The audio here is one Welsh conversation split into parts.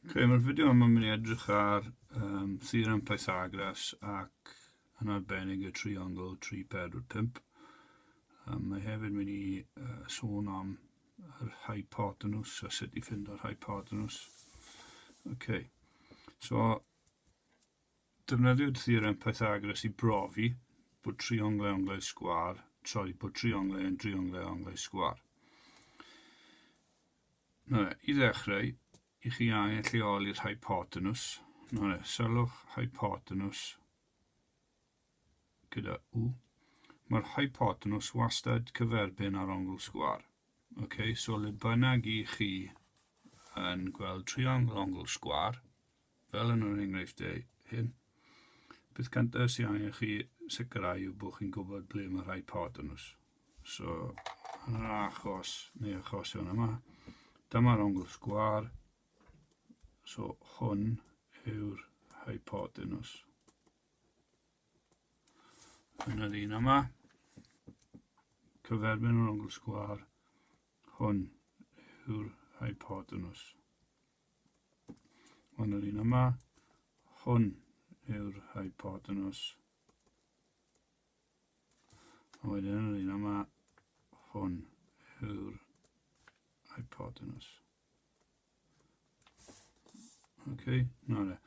Okay, mae'r fideo yma yn mynd i edrych ar um, theorem Pythagoras ac yn arbennig y triongl 3, 4, 5. Um, mae hefyd mynd i uh, sôn am yr hypotenws a sut i fynd o'r hypotenws. Okay. So, defnyddio'r theorem Pythagoras i brofi bod trionglau onglau sgwar, sori, bod trionglau yn drionglau onglau sgwar. I ddechrau, i chi angen lleoli'r hypotenws. Sylwch hypotenws gyda U. Mae'r hypotenws wastad cyferbyn ar ongl sgwar. Okay, so le bynnag i chi yn gweld triongl ongl sgwar, Fel yn yr enghreifftiau hyn, beth cyntaf sy'n angen chi sicrhau yw bod chi'n gwybod ble mae rhai pod yn os. So, yn yr achos, neu achosion yma, dyma'r ongl sgwar. So, hwn yw'r rhai pod yn os. Yn yr un yma, cyferbyn yr ongl sgwar, hwn yw'r rhai pod yn os. Hwn yr un yma. Hwn yw'r hypotenus. A wedyn yr un yma. Hwn yw'r hypotenus. OK, na le.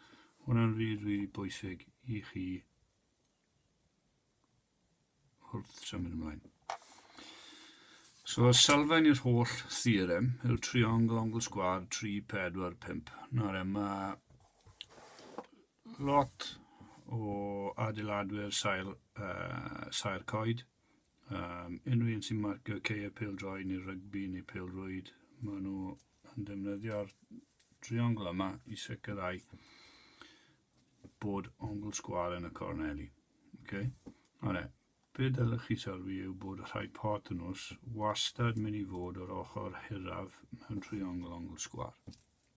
Hwna'n rili, rili bwysig i chi Wrth tra mynd ymlaen. So, sylfaen i'r holl theorem yw'r triongl ongl sgwad 3, 4, 5. Nawr, yma lot o adeiladwyr sail, uh, sail coed. Um, unrhyw un sy'n marcio ceir pildroi neu rygbi neu pildrwyd, maen nhw yn defnyddio'r triongl yma i sicrhau bod ongl sgwâr yn y corneli. Okay? Alright, be dylech chi sylwi yw bod y hypotenws wastad mynd i fod o'r ochr hiraf mewn triongl ongl sgwâr.